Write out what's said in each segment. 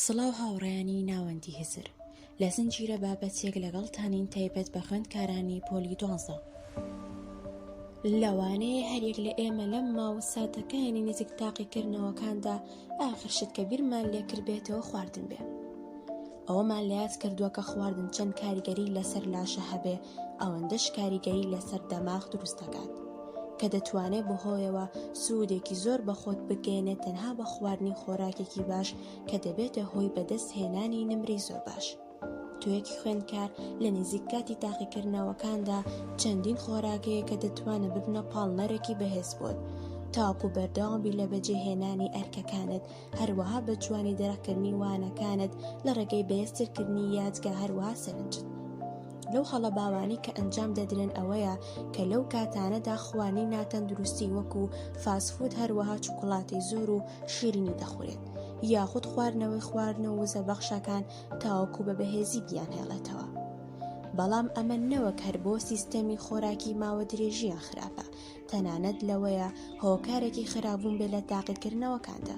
سڵاو هاوڕێیانی ناوەندی هزر لە زنجیرە بابەتێک لەگەڵتانین تایبەت بە خوێندکارانی پۆلی دوانزە لەوانەیە هەریەک لە ئێمە لەم ماوە ساتەکانی نزیک تاقیکردنەوەکاندا ئاخر شت کە بیرمان لێکردبێتەوە خواردن بێ ئەوەمان لات کردووە کە خواردن چەند کاریگەری لەسەر لاشە هەبێ ئەوەندەش کاریگەری لەسەر دەماغ دروست دەکات کە دەتوانێت بەهۆیەوە سوودێکی زۆر بە خۆت بگەێنێت تەنها بە خواردنی خۆراکێکی باش کە دەبێتە هۆی بەدەست هێنانی نمری زۆر باش. توێکی خوێندکار لە نزیک کاتی تاقیکردنەوەکاندا چەندین خۆراکەیە کە دەتوانە ببنە پاڵنەرێکی بەهێز بۆت تاکو بەردەوابی لە بەجێهێنانی ئەرکەکانت هەروەها بە جوانی دەرەقکردنی وانەکانت لە ڕێگەی بەێسترکردنی یادگە هەروەها سەرنجت لەو هەڵە باوانی کە ئەنجام دەدرێن ئەوەیە کە لەو کاتانەدا خوانی ناتەندروستی وەکو فاسفود هەروەها چوکڵاتی زۆر و شیرینی دەخورێت یاخود خواردنەوەی خواردن و وزە بەخشەکان تاوەکو بە بەهێزی بیان هێڵێتەوە بەڵام ئەمە نەوەک هەر بۆ سیستەمی خۆراکی ماوە درێژیان خراپە تەنانەت لەوەیە هۆکارێکی خراپبوون بێ لە تاقیکردنەوەکاندا.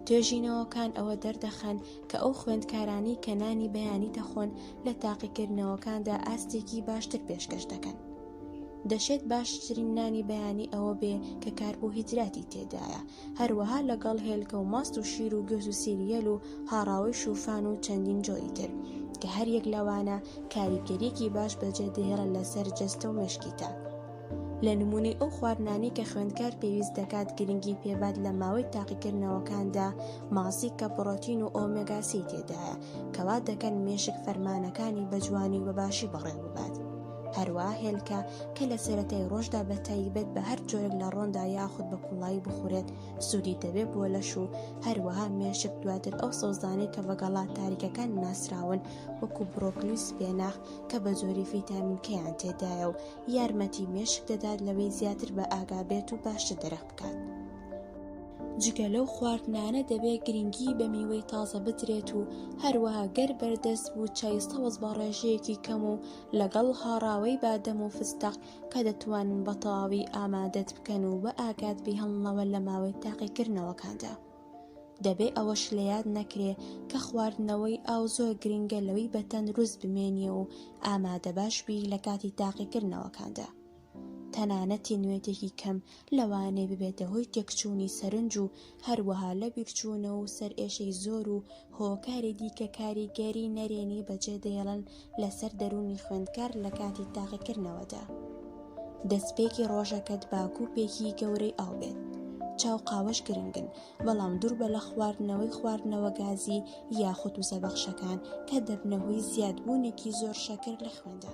توێژینەوەکان ئەوە دەردەخەن کە ئەو خوێندکارانی کە نانی بەیانی دەخۆن لە تاقیکردنەوەکاندا ئاستێکی باشتر پێشکەش دەکەن. دەشێت باشترین نانی بەیانی ئەوە بێ کە کار بۆ هیدراتی تێدایە هەروەها لەگەڵ هێلکە و ماست و شیر و گوێز و سیریەل و هاڕاوی شوفان و چەندین جۆری تر کە هەریەک لەوانە کاریگەریەکی باش بەجێ دێڵە لەسەر جەستە و مشکیتە. لە نمونەی ئەو خواردنانەی کە خوێندکار پێویست دەکات گرنگی پێبات لە ماوەی تاقیکردنەوەکاندا ماسی کە پڕۆتین و ئۆمێگا سی تێدایە کەوا دەکەن مێشک فەرمانەکانی بە جوانی و بە باشی بەڕێوەببات. هەروا هێلکە کە لە سەرەتای ڕۆژدا بە تایبەت بە هەر جۆرێک لە ڕۆندا یاخود بە کوڵایی بخورێت سوودی دەبێت بۆ لەش و هەروەها مێشک دواتر ئەو سەوزانەی کە بەگەڵا تاریکەکان ناسراون وەکو برۆکلی و سپێناخ کە بە زۆری فیتامینکەیان تێدایە و یارمەتی مێشک دەدات لەوەی زیاتر بە ئاگا بێت و باشتر دەرەق بکات. جگە لەو خواردنانە دەبێت گرنگی بە میوەی تازە بدرێت و هەروەها گەر بەردەست بوو چای سەوز بە ڕێژەیەکی کەم و لەگەڵ هاڕاوەی بادەم و فستەق کە دەتوانن بە تەواوی ئامادەت بکەن و بە ئاگات بیهڵنەوە لە ماوەی تاقیکردنەوەکاندا. دەبێ ئەوەش لە یاد نەکرێ کە خواردنەوەی ئاو زۆر گرنگە لەوەی بە تەندروست بمێنیە و ئامادە باش بی لە کاتی تاقیکردنەوەکاندا. تەنانەت تینوێتێکی کەم لەوانەیە ببێتە هۆی تێکچوونی سەرنج و هەروەها لەبیرچوونەوە و سەرئێشەی زۆر و هۆکاری دیکە کاریگەری نەرێنی بەجێ دێڵن لەسەر دەروونی خوێندکار لە کاتی تاقیکردنەوەدا. دەستپێکی ڕۆژەکەت با کوپێکی گەورەی ئاو بێت. چا و قاوەش گرنگن، بەڵام دووربە لە خواردنەوەی خواردنەوە گازی یاخود وزەبەخشەکان کە دەبنە هۆی زیادبوونێکی زۆر شەکر لە خوێندا.